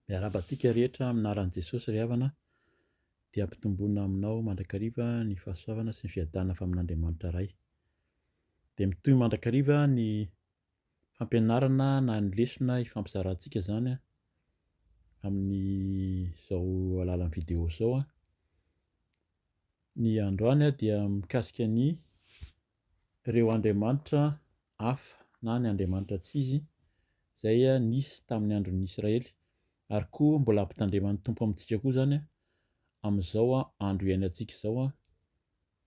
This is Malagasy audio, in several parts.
Miarahaba antsika rehetra amin'ny anaran'i Jesosy ry havana dia ampitomboina aminao mandrakariva ny fahasoavana sy ny fiadanana avy amin'Andriamanitra Ray. Dia mitohy mandrakariva ny fampianarana na ny lesona ifampizarantsika izany amin'izao alalan'ny video izao. Ny androany dia mikasika ny ireo andriamanitra hafa na ny andriamanitra tsy izy izay nisy tamin'ny andron'ny Israely ary koa mbola hampitandreman'ny Tompo amintsika koa izany amin'izao andro iainantsika izao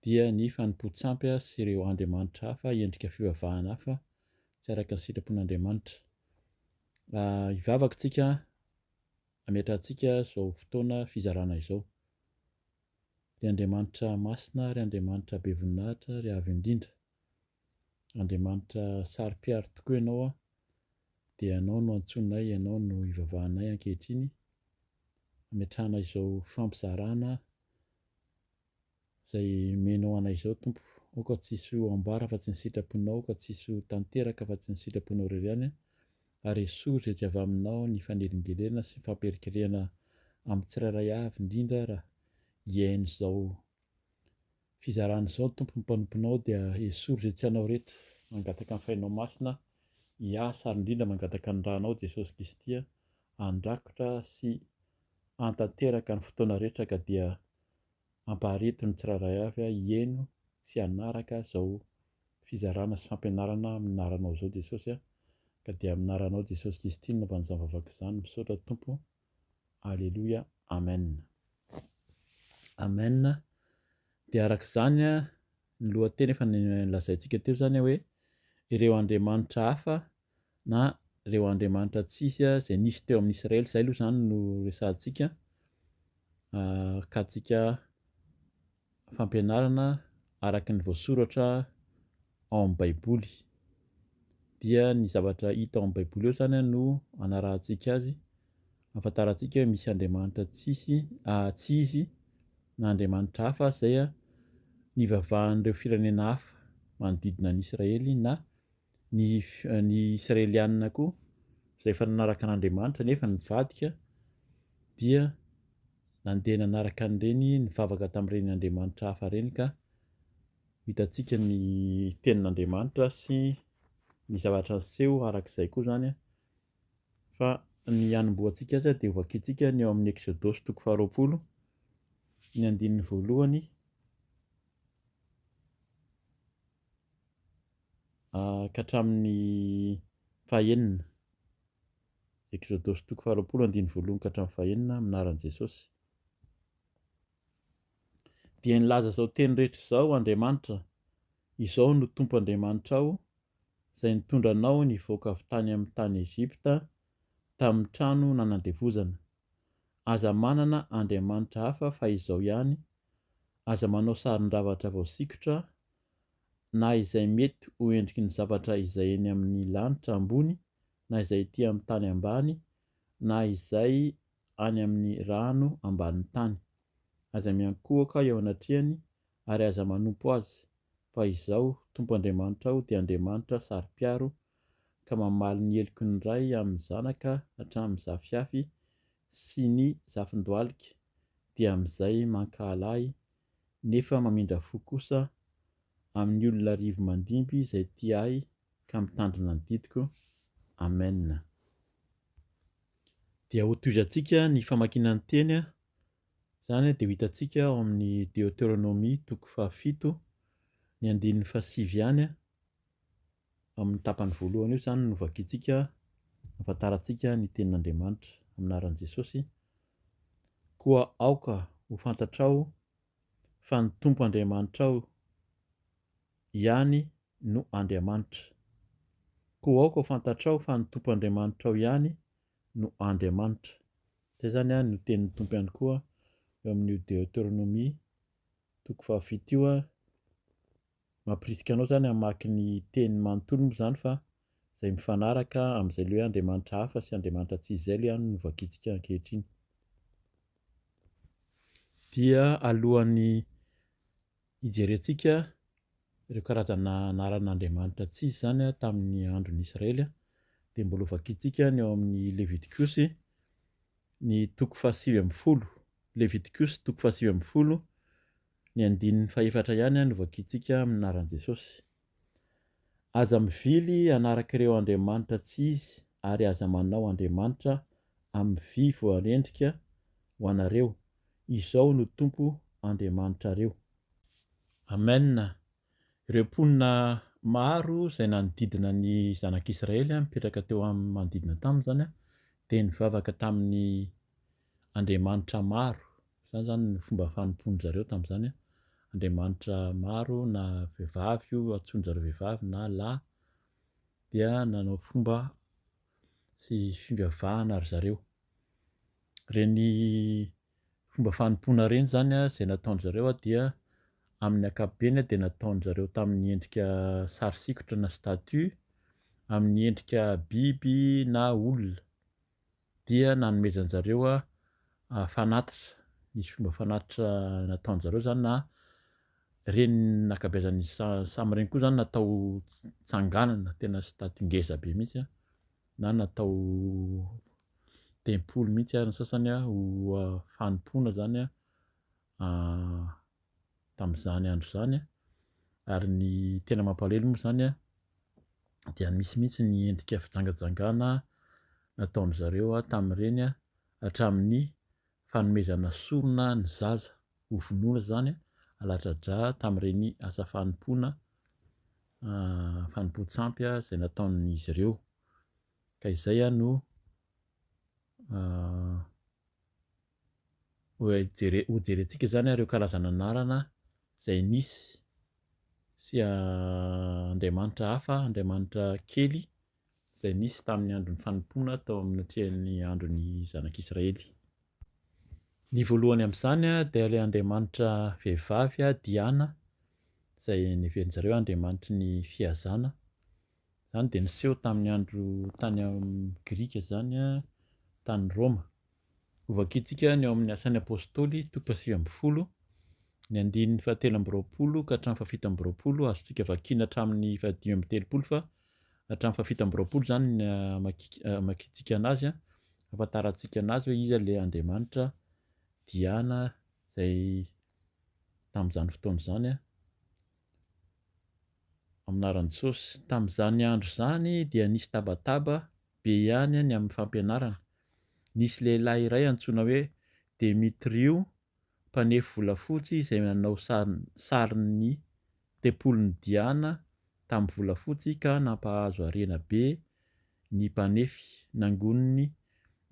dia ny fanompoan-tsampy sy ireo andriamanitra hafa endrika fivavahana hafa tsy araka ny sitrapon'Andriamanitra. Ah, hivavaka tsika ametrahantsika izao fotoana fizarana izao. Ry Andriamanitra masina ary Andriamanitra be voninahitra ary avo indrindra, Andriamanitra saro-piaro tokoa Ianao an, dia Ianao no antsoinay, Ianao no ivavahanay ankehitriny, ametrahana izao fampizarana izay omenao anay izao Tompo, aoka tsy hisy ho ambara afa-tsy ny sitraponao, aoka tsy hisy ho tanteraka afa-tsy ny sitraponao irery ihany an, ary esory izay tsy avy aminao ny fanelingelena sy fampierikerehana amin'ny tsirairay avy indrindra raha ien izao fizarana izao Tompo ny mpanomponao dia esory izay tsy anao rehetra mangataka ny fainao masina hiasa ary indrindra mangataka ny ranao Jesosy Kristy a andrakotra sy antanteraka ny fotoana rehetra ka dia Ampaharito ny tsirairay avy hihaino sy hanaraka izao fizarana sy fampianarana amin'ny anaranao izao Jesosy a! ka dia amin'ny anaranao Jesosy Kristy nanaovana izany vavaka izany misaotra Tompo Aleloia Amen Amen dia araka izany ny lohateny efa nolazaintsika teo izany hoe ireo Andriamanitra hafa na ireo andriamanitra tsisy izay nisy teo amin'ny Israely, izay aloha izany no resahantsika, akatsika fampianarana araka ny voasoratra ao amin'ny Baiboly. Dia ny zavatra hita ao amin'ny Baiboly eo izany no anarahantsika azy, afantarantsika hoe misy andriamanitra tsisy, ah, tsy izy na andriamanitra hafa izay nivavahan'ireo firenena hafa manodidina an'i Israely na Ny ny Israelianina koa, izay efa nanaraka an'Andriamanitra nefa nivadika, dia nandeha nanaraka an'ireny nivavaka tamin'ireny andriamanitra hafa ireny ka hitantsika ny tenin'Andriamanitra sy ny zavatra niseho araka izay koa izany an, fa ny hanombohantsika azy dia hovakintsika ny ao amin'ny Eksodosy toko faharoapolo ny andininy voalohany. ka hatramin'ny fahenina. Ekzodosy toko faharoapolo andininy voalohony ka hatramin'ny fahenina amin'ny anaran'i Jesosy. Dia nilaza izao teny rehetra izao Andriamanitra, izao no Tompo Andriamanitrao, izay nitondra anao nivoaka avy tany amin'ny tany Egypta, tamin'ny trano nanandevozana. Aza manana andriamanitra hafa fa izao ihany, aza manao sarin-javatra voasikotra na izay mety ho endriky ny zavatra izay eny amin'ny lanitra ambony, na izay ety amin'ny tany ambany, na izay any amin'ny rano ambanin'ny tany. Aza miankohoka eo anatrehany, ary aza manompo azy, fa Izaho, Tompo Andriamanitrao, dia Andriamanitra saro-piaro, ka mamaly ny heloky ny ray amin'ny zanaka hatramin'ny zafiafy sy ny zafin-dohalika, dia amin'izay mankahala Ahy nefa mamindra fo kosa amin'ny olona arivo mandimby izay tia ahy ka mitandrina ny didiko. Amen. Dia hotohizantsika ny famakiana ny Teny, izany dia ho hitantsika ao amin'ny Deoteronomia toko fahafito, ny andininy fahasivy ihany. Amin'ny tapany voalohany io izany no vakintsika, ahafantarantsika ny tenin'Andriamanitra, amin'ny anaran'i Jesosy, Koa aoka ho fantatrao fa ny Tompo Andriamanitrao ihany no Andriamanitra. Koa aoka ho fantatrao fa ny Tompo Andriamanitrao ihany no Andriamanitra. Izay izany a, no tenin'ny Tompo ihany koa eo amin'io Deoteronomia toko fahafito io a, Mampirisika anao izany hamaky ny Teny manontolo moa izany fa izay mifanaraka amin'izay le hoe andriamanitra hafa sy andriamanitra tsy izay le any no vakintsika ankehitriny. Dia alohan'ny hijerentsika ireo karazana anaran'andriamanitra tsy izy izany tamin'ny andron'ny Israely dia mbola ho vakintsika ny ao amin'ny Levitikosy ny toko fahasivy ambin'ny folo, Levitikosy toko fahasivy ambin'ny folo, Ny andininy fahefatra ihany no vakintsika amin'ny anaran'i Jesosy. Aza mivily hanaraka ireo andriamanitra tsy izy ary aza manao andriamanitra amin'ny vy voarendrika ho anareo, izao no Tompo Andriamanitrareo. Amen, ireo mponina maro izay nanodidina ny zanak'Israely mipetraka teo amin'ny manodidina taminy izany dia nivavaka tamin'ny andriamanitra maro, izany izany no fomba fanompoan-dry zareo tamin'izany an, andriamanitra maro na vehivavy io antsoin-dry zareo vehivavy na lahy dia nanao fomba sy fivavahana ry zareo. Ireny fomba fanompoana ireny izany an, izay nataon-dry zareo an dia amin'ny ankapobeny an dia nataon-dry zareo tamin'ny endrika sary sikotra na statue, amin'ny endrika biby na olona. dia nanomezan zareo fanatitra nisy fomba fanatitra nataon zareo zany na reny nakabeazan ny samy reny koa zany natao tsanganana tena stade ngeza be mihitsy a na natao tempoly mihitsy ary ny sasany a ho fanompoana zany a tamin'izany andro izany an, ary ny tena mampalahelo moa izany an dia misy mihitsy ny endrika fijangajangana nataon-dry zareo tamin'ireny an, hatramin'ny fanomezana sorona ny zaza ho vonoina izany an, alatradra tamin'ireny asa fanompoana fanompoan-tsampy izay nataon'izy ireo, ka izay no ho jerentsika izany ary ireo karazan'anarana izay nisy sy andriamanitra hafa, andriamanitra kely izay nisy tamin'ny andron'ny fanompoana tao anatrehan'ny andron'ny zanak'Israely. Ny voalohany amin'izany dia ilay andriamanitra vehivavy Diana izay neverin-dry zareo andriamanitry ny fihazana. Izany dia niseho tamin'ny andro tany amin'ny Grika izany tany Roma. Hovakintsika ny ao amin'ny Asan'ny Apostoly, toko fahasivy ambin'ny folo, ny andininy fahatelo amby roapolo ka hatramin'ny fahafito amby roapolo, azontsika vakiana hatramin'ny fahadimy amby telopolo fa hatramin'ny fahafito amby roapolo izany ny hamakiantsika anazy an, hahafantarantsika anazy hoe iza ilay Andriamanitra Diana izay tamin'izany fotoana izany an, amin'ny anaran'i Jesosy. Tamin'izany andro izany dia nisy tabataba be ihany ny amin'ny fampianarana. Nisy lehilahy iray antsoina hoe Demetriou, mpanefy volafotsy izay nanao sarin'ny Tempolin'i Diana tamin'ny volafotsy ka nampahazo harena be ny mpanefy. Nangoniny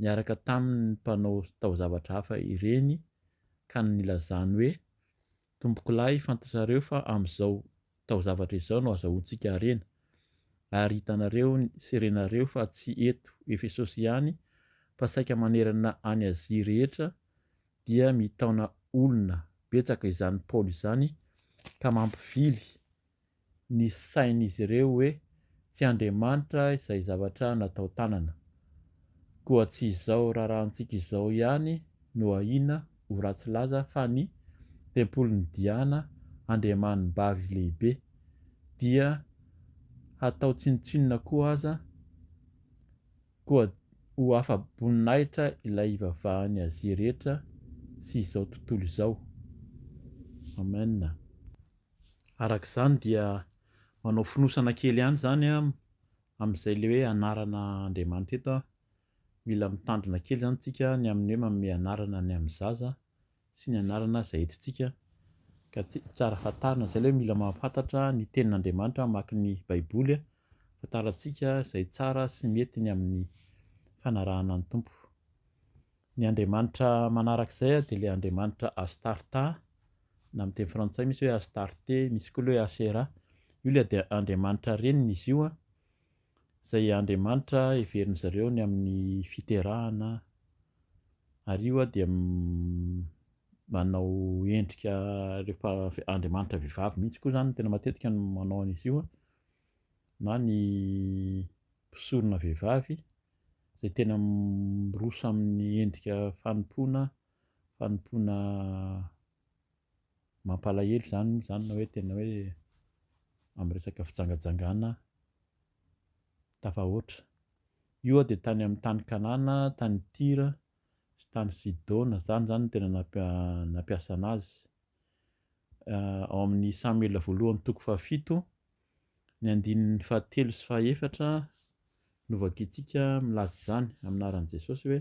niaraka taminy ny mpanao taozavatra hafa ireny ka nilazany hoe, Tompokolahy, fantatrareo fa amin'izao taozavatra izao no azahoantsika harena, ary hitanareo ny serenareo fa tsy eto Efesosy ihany fa saika manerana an'i Azia rehetra dia mitaona olona betsaka izany Paoly izany ka mampivily ny sain'izy ireo hoe tsy Andriamanitra izay zavatra natao tanana. Koa tsy izao raharahantsika izao ihany no ahiana ho ratsy laza fa ny tempolin'i Diana, andriamanibavy lehibe, dia hatao tsinontsinona koa aza koa ho afa-boninahitra ilay ivavahan'i Azia rehetra sy izao tontolo izao. Amen. Araka izany dia manao fonosana kely ihany izany amin'izay ilay hoe anarana Andriamanitra eto an, mila mitandrina kely izany isika ny amin'ny hoe manome anarana ny amin'ny zaza sy ny anarana izay entintsika ka tsara fantarina izay ilay hoe mila mahafantatra ny tenin'Andriamanitra hamaky ny baiboly ahafantarantsika izay tsara sy mety ny amin'ny fanarahana ny Tompo. Ny andriamanitra manaraka izay dia ilay andriamanitra Astarta, na amin'ny teny frantsay misy hoe Astarte, misy koa ilay hoe Asera. Io ilay dia andriamanitra reniny izy io, izay andriamanitra heverin'ny zareo ny amin'ny fiterahana, ary io dia manao endrika rehefa andriamanitra vehivavy mihitsy koa izany no tena matetika no manao an'izy io na ny mpisorona vehivavy. izay tena miroso amin'ny endrika fanompoana, fanompoana mampalahelo izany moa izany na hoe tena hoe amin'ny resaka fijangajangana tafahoatra. Io dia tany amin'ny tany Kanana, tany Tyra sy tany Sidona, izany izany no tena nampi- nampiasana azy. Ao amin'ny Samoela voalohany toko fahafito. Ny andininy fahatelo sy fahaefatra no vakintsika milaza izany amin'ny anaran'i Jesosy hoe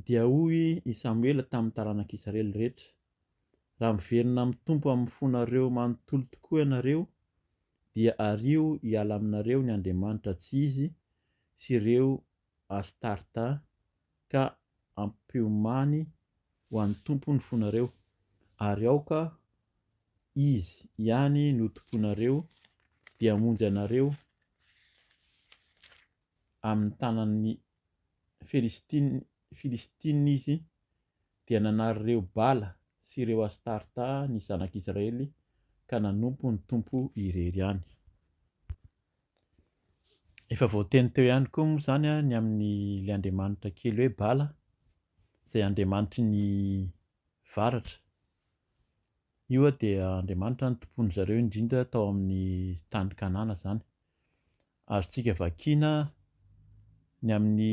Dia hoy i Samoela tamin'ny taranak'Israely rehetra, Raha miverina amin'ny Tompo amin'ny fonareo manontolo tokoa ianareo, dia ario hiala aminareo ny andriamanitra tsy izy sy ireo Astarta ka ampiomany ho an'ny tompony fonareo, ary aoka Izy ihany no tomponareo, dia hamonjy anareo amin'ny tanan'ny Filistina Izy. Dia nanariraoy Bala sy ireo Astarta ny zanak'Israely, ka nanompo ny Tompo irery ihany. Efa voateny teo ihany koa moa izany ny amin'ny ilay andriamanitra kely hoe Bala, izay andriamanitry ny varatra. Io dia andriamanitra nitompoan-dry zareo indrindra tao amin'ny tany Kanana izany. Azontsika vakiana ny amin'ny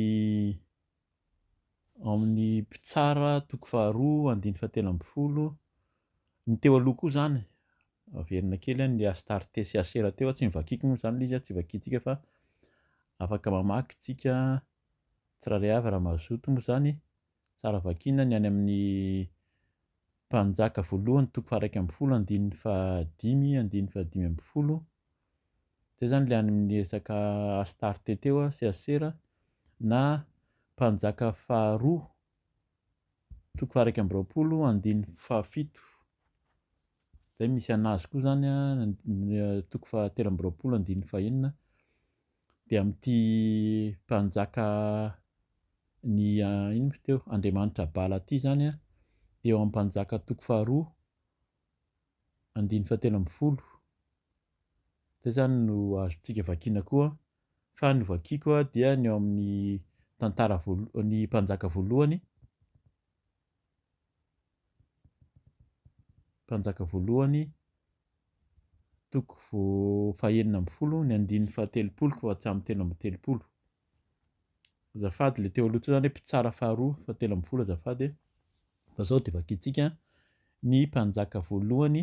ao amin'ny mpitsara toko faharoa andininy fahatelo ambin'ny folo ny teo aloha koa izany averina kely an' le Astarte sy Asera teo tsy nivakiko moa izany le izy tsy vakintsika fa afaka mamaky tsika tsirairay avy raha mazoto moa izany tsara vakina ny any amin'ny mpanjaka voalohany toko faha iraika ambin'ny folo andininy fahadimy andininy fahadimy ambin'ny folo zay zany le any amin'ny resaka Astarte teo a, Seasera na mpanjaka faharoa toko faharaika amby roapolo andiny fahafito, zay misy anazy koa zany a toko fahatelo amby roapolo andiny fahenina dia amin'ity mpanjaka ny ino moa izy teo Andriamanitra Bala ity zany a dia eo amin'ny mpanjaka toko faharoa andininy fahatelo ambin'ny folo izay izany no azontsika vakiana koa fa ny vakiako dia ny ao amin'ny tantara voalohany ny mpanjaka voalohany mpanjaka voalohany toko fahenina ambin'ny folo ny andininy fahatelopolo fa tsy amin'ny telo amby telopolo Azafady le teo aloha teo zany hoe mpitsara faharoa fa telo ambin'ny folo azafady e. Fa zao de vakintsika ny mpanjaka voalohany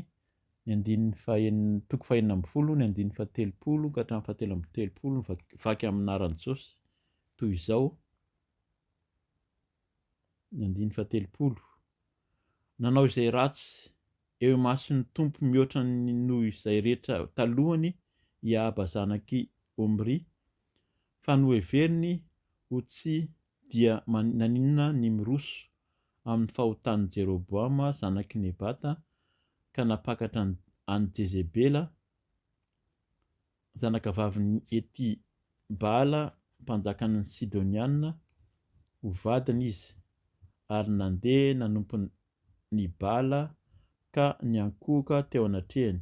ny andininy fahenina toko fahenina ambin'ny folo ny andininy fahatelopolo ka hatramin'ny fahatelo ambin'ny telopolo vaky amin'ny anaran'i Jaosy toy izao ny andininy fahatelopolo nanao izay ratsy Eo imason'ny Tompo mihoatra ny noho izay rehetra talohany i Ahaba zanak'i Omria, fa noheveriny ho tsy dia naninona ny miroso amin'ny fahotan'i Jeroboama zanak'i Nebata ka nampakatra an'i Jezebela zanakavavin'i Etibaala mpanjakan'ny Sidonianina ho vadiny izy ary nandeha nanompo ny bala ka niankohoka teo anatrehany.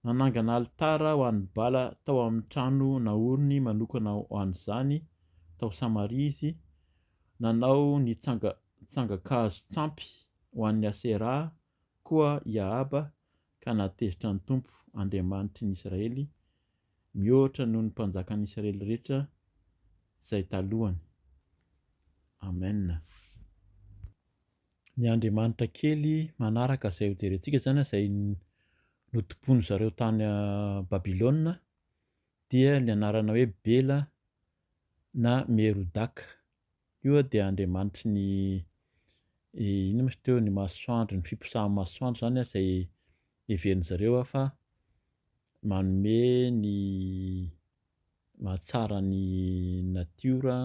Nanangana alitara ho an'ny bala tao amin'ny trano naoriny manokana ho an'izany tao Samaria izy, nanao ny tsanga tsangan-kazo tsampy ho an'ny Asera koa i Ahaba ka nahatezitra ny Tompo, Andriamanitry ny Israely, mihoatra noho ny mpanjakan'ny Israely rehetra izay talohany. Amena. Ny andriamanitra kely manaraka izay hojerentsika izany izay notompoin-dry zareo tany Babylona dia ny anarana hoe Bela na Merodaka. Io dia andriamanitry ny inona moa izy teo, ny masoandro, ny fiposahan'ny masoandro izany izay heverin'ny zareo fa manome ny mahatsara ny natiora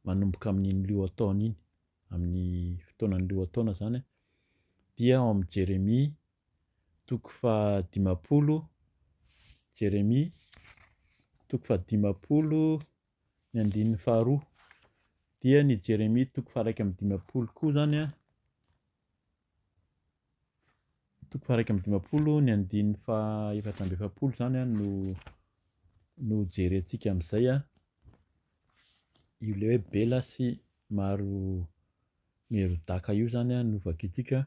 manomboka amin'iny lohataona iny, amin'ny fotoanan'ny lohataona izany dia ao amin'i Jeremia toko fahadimampolo, Jeremia toko fahadimampolo. ny andininy faharoa, dia ny Jeremia toko faha-iraika amby dimampolo koa izany an, toko faha-iraika amby dimampolo ny andininy faha-efatra amby efapolo izany an no no jerentsika amin'izay an, ilay hoe Bela sy Maro Merodaka io izany an no vakintsika,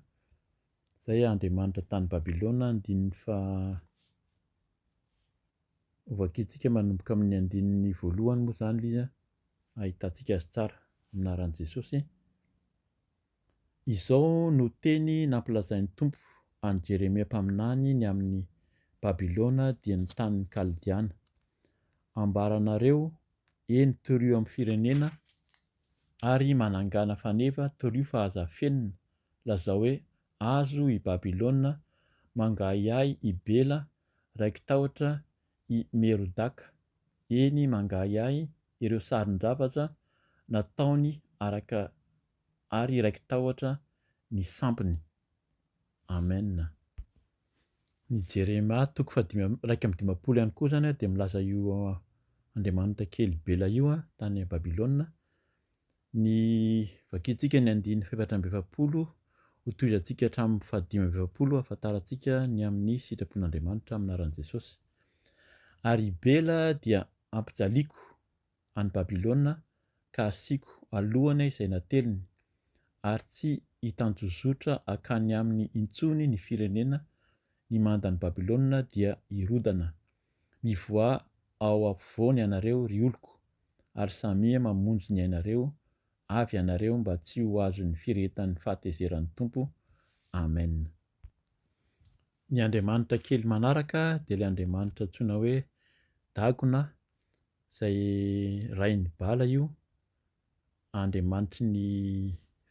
izay andriamanitra tany Babilôna andininy faha Hovakintsika manomboka amin'ny andininy voalohany moa izany ilay izy an, hahitantsika azy tsara. Amin'ny anaran'i Jesosy. Izao no teny nampilazain'ny Tompo an'i Jeremia mpaminany ny amin'i Babylona dia ny tanin'ny Kaldiana. Ambara anareo, eny torio amin'ny firenena ary manangana faneva, torio fa aza afenina, lazao hoe Azo i Babylona mangahiahy i Bela raiki-tahotra i Merodaka, eny mangahiahy ireo sarin-javatra nataony araka ary raiki-tahotra ny sampiny. Amen. Ny Jeremia toko fahadimy amby iraika amby dimampolo ihany koa izany dia milaza io andriamanitra kely Bela io tany Babylona Ny, vakintsika ny andininy fahefatra amby efapolo, hotohizantsika hatramin'ny fahadimy amby efapolo hahafantarantsika ny amin'ny sitrapon'Andriamanitra amin'ny anaran'i Jesosy. Ary i Bela dia ampijaliako any Babylona ka asiako alohany izay nateliny, ary tsy hitanjozotra hankany aminy intsony ny firenena, ny mandan'i Babylona dia hirodana. Mivoaha ao ampovoany ianareo, ry oloko, ary samia mamonjy ny ainareo, avy ianareo mba tsy ho azon'ny firehetan'ny fahatezeran'ny Tompo. Amen. Ny andriamanitra kely manaraka dia ilay andriamanitra antsoina hoe Dagona, izay rain'i Bala io, Andriamanitry ny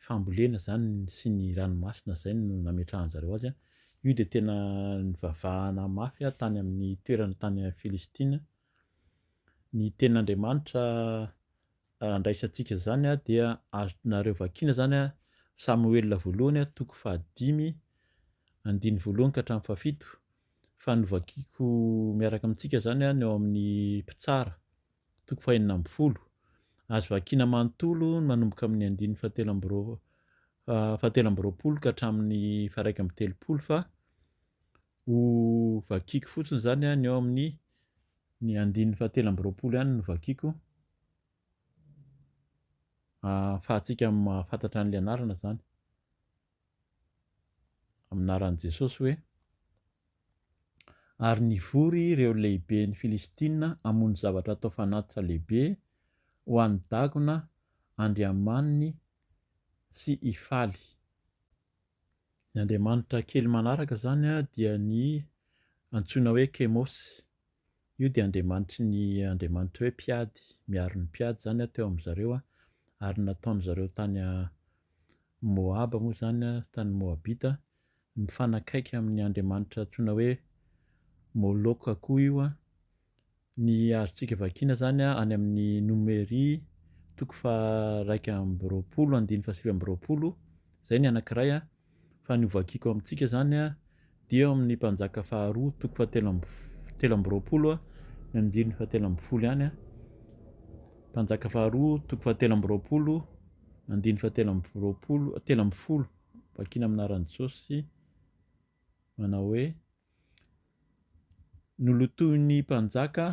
fambolena izany sy ny ranomasina izay no nametrahan-jareo azy. Io dia tena nivavahana mafy tany amin'ny toerana tany Filistina. Ny tenin'Andriamanitra andraisantsika izany dia azonareo vakiana izany Samoela voalohany toko fahadimy andiny voalohany ka hatramin'ny fahafito fa novakiako miaraka amintsika izany ny ao amin'ny mpitsara. toko fahenina ambin'ny folo. Azo vakina manontolo ny manomboka amin'ny andininy fahatelo amby roa- fahatelo amby roapolo ka hatramin'ny faharaika amby telopolo fa ho vakiako fotsiny izany an, ny ao amin'ny ny andininy fahatelo amby roapolo ihany no vakiako ahafahantsika mahafantatra an'ilay anarana izany. amin'ny anaran'i Jesosy hoe, Ary nivory ireo lehiben'ny Filistina hamono zavatra atao fanatitra lehibe ho an'i Dagona andriamaniny sy hifaly. Ny andriamanitra kely manaraka izany dia ny antsoina hoe Kemosy. Io dia andriamanitry ny andriamanitra hoe Mpiady, miaro ny mpiady izany an, teo amin'izy ireo an, ary ny nataon'izy ireo tany an, Moaba moa izany an, tany Moabita, mifanakaiky amin'ny andriamanitra antsoina hoe Moloka koa io an, ny azontsika vakiana izany an, any amin'ny Nomery toko faha iraika amby roapolo andininy fahasivy amby roapolo, izay ny anankiray an, Fa ny hovakiko amintsika izany dia eo amin'ny Mpanjaka faharoa toko fahatelo amby telo amby roapolo ny andininy fahatelo ambin'ny folo ihany a, Mpanjaka faharoa toko fahatelo amby roapolo andininy fahatelo amby roapolo telo ambin'ny folo vakina amin'ny anaran'i Jesosy manao hoe nolotoin'ny Mpanjaka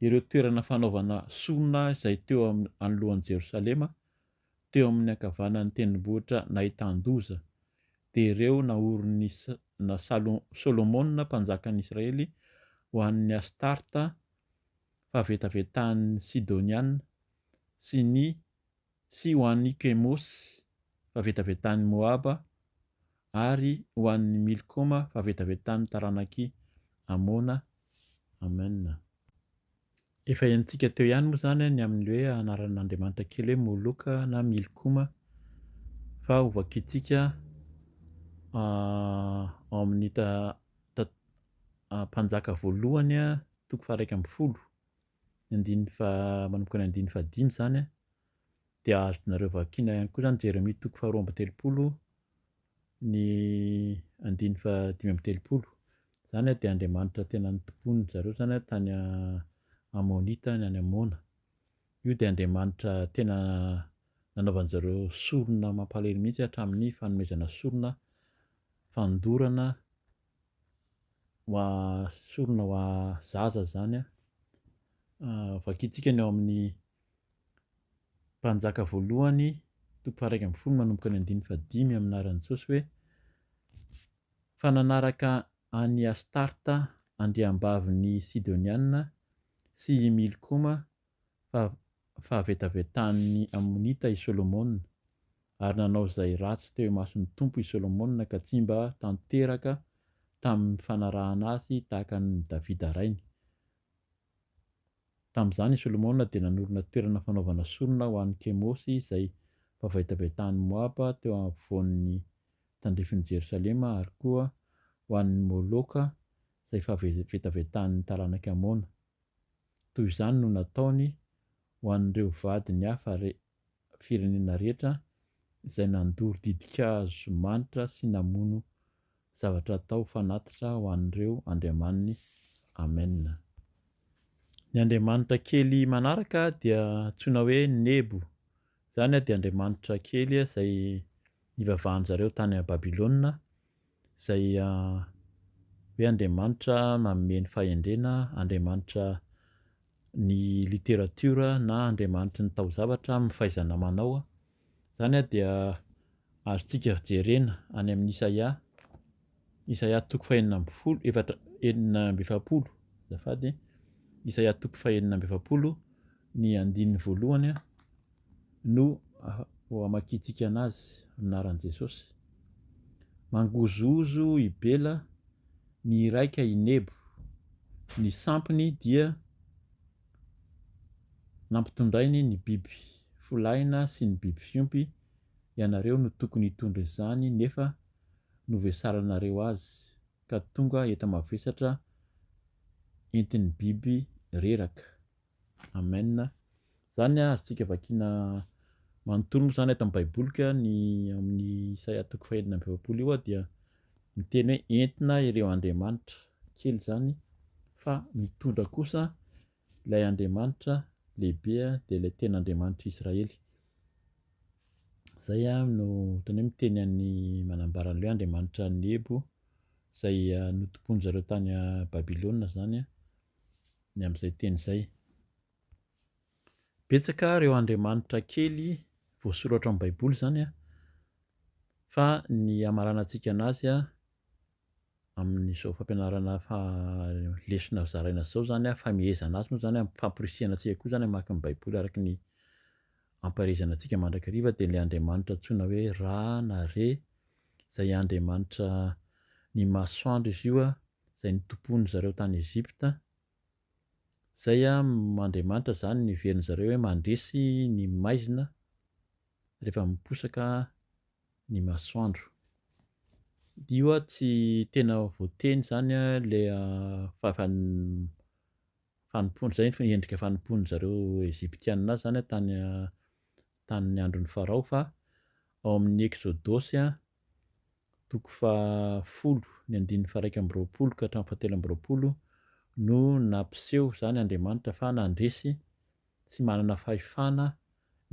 ireo toerana fanaovana sorona izay teo anoloan'i Jerosalema teo amin'ny ankavanan'ny tendrombohitra nahitan-doza, dia ireo naorin'i Solomona mpanjakan'ny Israely ho an'ny Astarta, fahavetavetan'ny Sidoniana, sy ny sy ho an'i Kemosy, fahavetavetan'i Moaba, ary ho an'i Milkoma, fahavetavetan'ny taranak'i Amona. Amen. Efa henontsika teo ihany moa izany ny amin'ny hoe anaran'Andriamanitra kely hoe Moloka na Milkoma fa ho vakintsika ao amin'ny Mpanjaka voalohany toko faharaika ambin'ny folo ny andininy faha- manomboka ny andininy fahadimy izany dia azonareo vakiana ihany koa izany Jeremia toko faharoa amby telopolo ny andiny faha dimy amby telopolo, izany dia Andriamanitra tena nitompoan-dry zareo izany tany Amonita any Amona, io dia Andriamanitra tena nanaovan-dry zareo sorona mampalahelo mihintsy hatramin'ny fanomezana sorona fandorana ho a- sorona ho a- zaza izany, vakintsika ny ao amin'ny mpanjaka voalohany toko faha-iraika ambin'ny folo manomboka ny andininy fahadimy amin'ny anaran'i Jesosy hoe fa nanaraka an'i Astarta andriambavin'ny Sidonianina sy i Milkoma fahavetavetan'ny Amonita i Solomona, ary nanao izay ratsy teo imason'ny Tompo i Solomona ka tsy mba tanteraka tamin'ny fanarahana azy tahaka an'i Davida rainy. Tamin'izany i Solomona dia nanorina toerana fanaovana sorona ho an'i Kemosy izay vavaitabaitahan'i Moaba teo afovoan'ny tandrifin'i Jerosalema ary koa ho an'i Moloka izay fahavetavetan'ny taranak'i Amona. Toy izany no nataony ho an'ireo vadiny hafa re. firenena rehetra izay nandoro didinkaazo manitra sy namono zavatra atao fanatitra ho an'ireo andriamaniny. Amen. Ny andriamanitra kely manaraka dia antsoina hoe Nebo. Izany dia andriamanitra kely izay nivavahan-dry zareo tany Babylona. Izay hoe Andriamanitra manome ny fahendrena, Andriamanitra ny literatiora na Andriamanitry ny taozavatra amin'ny fahaizana manao, izany dia azontsika jerena any amin'ny Isaia, Isaia toko fahenina ambin'ny folo, efatra, enina amby efapolo, azafady, Isaia toko fahenina amby efapolo ny andininy voalohany. no ho amakiantsika anazy amin'aran'i Jesosy. Mangozohozo i Bela ny iraika i Nebo. Ny sampiny dia nampitondrainy ny biby folaina sy ny biby fiompy, ianareo no tokony hitondra izany nefa novesaranareo azy ka tonga enta-mavesatra entin'ny biby reraka. Amen zany ary tsika vakina manontolo mo zany atam baiboly ka ny aminy isaia toko faha enina amby efapolo io dia miteny hoe entina ireo andriamanitra kely zany fa mitondra kosa ilay andriamanitra lehibe dia ilay tena andriamanitra israely zay ah no otany hoe miteny an'ny manambara an'le hoe andriamanitra ny ebo zay notompoinzareo tany babylona zany a ny amin'izay teny izay. Betsaka ireo andriamanitra kely voasoratra ao amin'ny Baiboly izany an, fa ny hamaranantsika an'azy amin'izao fampianarana lesona zaraina izao izany an, famehezana azy moa izany an, famporisihana antsika koa izany hamaky ny Baiboly araka ny ampaherezana antsika mandrakariva dia ilay andriamanitra antsoina hoe Ra na Re izay andriamanitra ny masoandro izy io an, izay nitompoan zareo tany Egypta, izay am Andriamanitra izany niheverin zareo hoe mandresy ny maizina rehefa miposaka ny masoandro. Io a tsy tena voateny izany a le a fahavan fanompoan izay ny endrika fanompoan zareo Egyptiana azy izany tany a tamin'ny andron'i Farao fa ao amin'ny Eksodosy a. toko fahafolo ny andininy faha-iraika amby roapolo ka hatramin'ny fahatelo amby roapolo no nampiseho izany Andriamanitra fa nandresy sy manana fahefana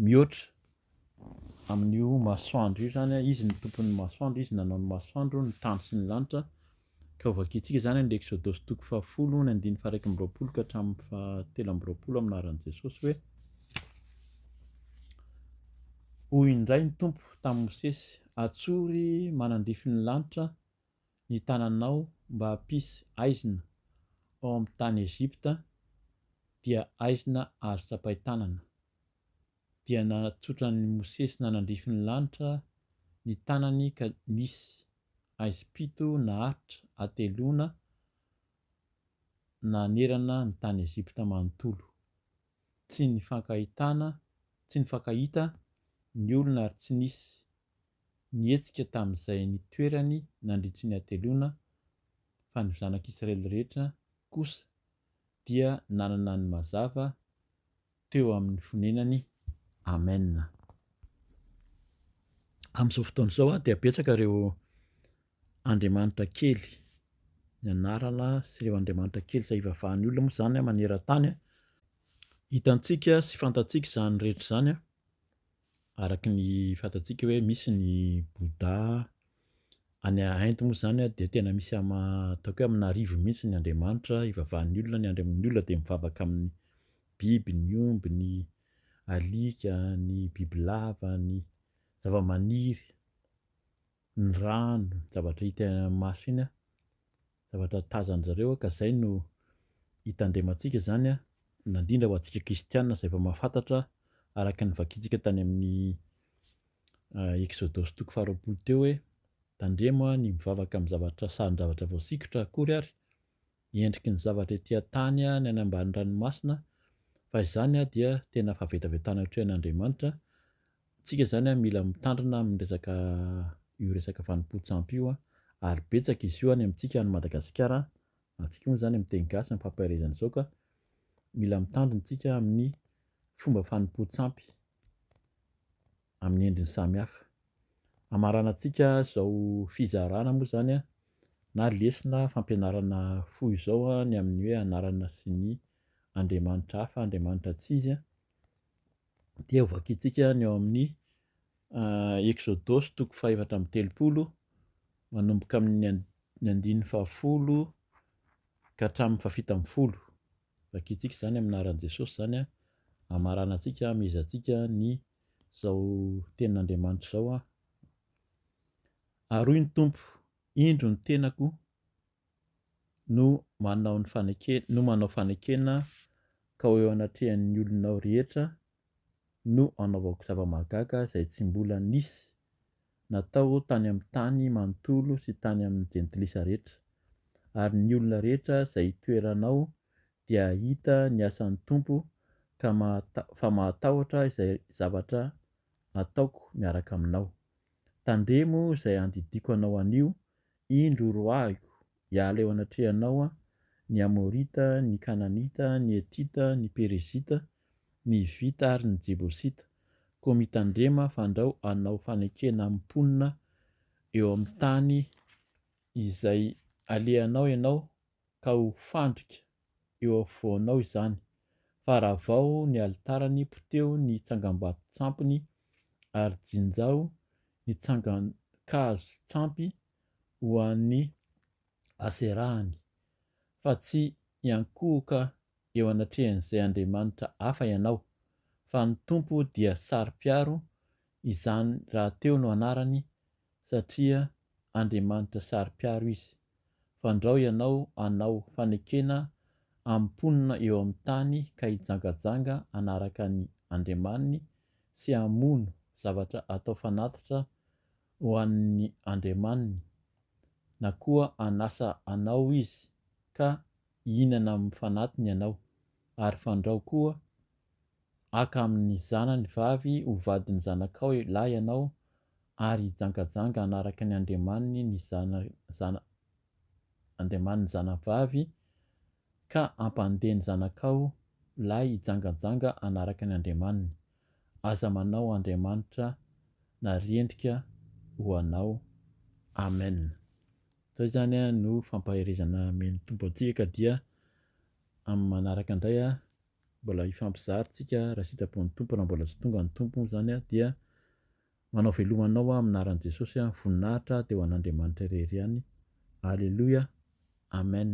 mihoatra amin'io masoandro io izany, izy no tompon'ny masoandro, izy nanao ny masoandro, ny tany sy ny lanitra, Ka hovakintsika izany amin'ilay Eksodosy toko fahafolo ny andininy faha iraika amby roapolo ka hatramin'ny faha telo amby roapolo amin'ny anaran'i Jesosy hoe, Hoy indray ny Tompo tamin'i Mosesy, Atsory manandrify ny lanitra ny tananao mba hampisy aizina ao amin'ny tany Egypta, dia aizina azo tsapain-tanana. Dia natsotran'i Mosesy nanandrify ny lanitra ny tanany ka nisy Aizy pito naharitra ateloana nanerana ny tany Egypta manontolo. Tsy nifankahitana, tsy nifankahita, ny olona ary tsy nisy nihetsika tamin'izay nitoerany nandritry ny ateloana, fa ny zanak'Israely rehetra kosa dia nanana ny mazava teo amin'ny fonenany. Amen. Amin'izao fotoana izao dia betsaka ireo andriamanitra kely, ny anarana sy ireo andriamanitra kely izay ivavahan'ny olona moa izany maneran-tany. Hitantsika sy fantatsika izany rehetra izany. araka ny fantatsika hoe misy ny Bouddha, any Inde moa izany dia tena misy ama ataoko hoe amina arivo mihitsy ny Andriamanitra ivavahan'ny olona, ny Andriaman'ny olona dia mivavaka amin'ny biby, ny omby, ny alika, ny bibilava, ny zavamaniry. ny rano, ny zavatra hita eny amin'ny maso eny, zavatra tazan-dry zareo ka izay no hitandremantsika izany na indrindra ho antsika kristiana izay efa mahafantatra araka ny vakintsika tany amin'ny Eksodosy toko faharoapolo teo hoe tandremo ny mivavaka amin'ny zavatra sarin-javatra voasikotra akory ary ny endriky ny zavatra ety an-tany ny any ambany ranomasina fa izany dia tena fahavetavetana ohatry an' Andriamanitra, tsika izany mila mitandrina amin'ny resaka io resaka fanompoan-tsampy io ary betsaka izy io any amintsika any Madagasikara, antsika moa izany amin'ny teny gasy amin'ny fampaherezana izao ka mila mitandrina isika amin'ny fomba fanompoan-tsampy. amin'ny endriny samihafa. Hamaranantsika izao fizarana moa izany na lesona fampianarana fohy izao ny amin'ny hoe anarana sy ny andriamanitra hafa, andriamanitra tsy izy, dia hovakintsika ny ao amin'ny Eksodosy toko fahefatra amby telopolo manomboka amin'ny andininy fahafolo ka hatramin'ny fahafito ambin'ny folo. Vakintsika izany amin'ny anaran'i Jesosy izany an, hamaranantsika, hamehezantsika ny izao tenin'Andriamanitra izao an. Aroy ny Tompo, indro ny tenako no manao ny fanekena, no manao fanekena ka ho eo anatrehan'ny olonao rehetra no anaovako zava-mahagaga izay tsy mbola nisy natao tany amin'ny tany manontolo sy tany amin'ny jentilisa rehetra, ary ny olona rehetra izay hitoerana ao dia hahita ny asan'ny Tompo ka fa mahatahotra izay zavatra ataoko miaraka aminao. Tandremo izay handidiako anao anio Indro roahiko, hiala eo anatrehanao ny Amorita, ny Kananita, ny Hetita, ny Perezita, ny Hivita ary ny Jebosita, koa mitandrema fandrao hanao fanekena amin'ny mponina eo amin'ny tany izay alehanao ianao ka ho fandrika eo afovoanao izany, fa ravao ny alitarany, poteho ny tsangambato tsampiny, ary jinjao ny tsangan-kazo tsampy ho an'i Aserahany, fa tsy hiankohoka eo anatrehan'izay andriamanitra hafa ianao, fa ny Tompo dia saro-piaro Izany rahateo no anarany satria Andriamanitra saro-piaro izy. Fandrao ianao hanao fanekena amin'ny mponina eo amin'ny tany ka hijangajanga hanaraka ny andriamaniny sy hamono zavatra atao fanatitra ho an'ny andriamaniny, na koa hanasa anao izy ka hihinana amin'ny fanatiny ianao, ary fandrao koa Haka amin' ny zanany vavy ho vadin' ny zanakao lahy ianao, ary hijangajanga hanaraka ny andriamaniny ny zana, andriamaniny zanavavy, ka hampandeha ny zanakao lahy hijangajanga hanaraka ny andriamaniny. Aza manao andriamanitra na rendrika ho anao. Amena. Izay izany no fampaherezana amen'ny Tompo antsika, ka dia amin'ny manaraka indray Mbola hifampizary tsika raha sitrapon'ny Tompo raha mbola tsy tonga ny Tompo moa izany aho dia manao veloma anao aho amin'ny anaran'i Jesosy aho, ny voninahitra dia ho an'Andriamanitra irery ihany, Aleloia, Amen.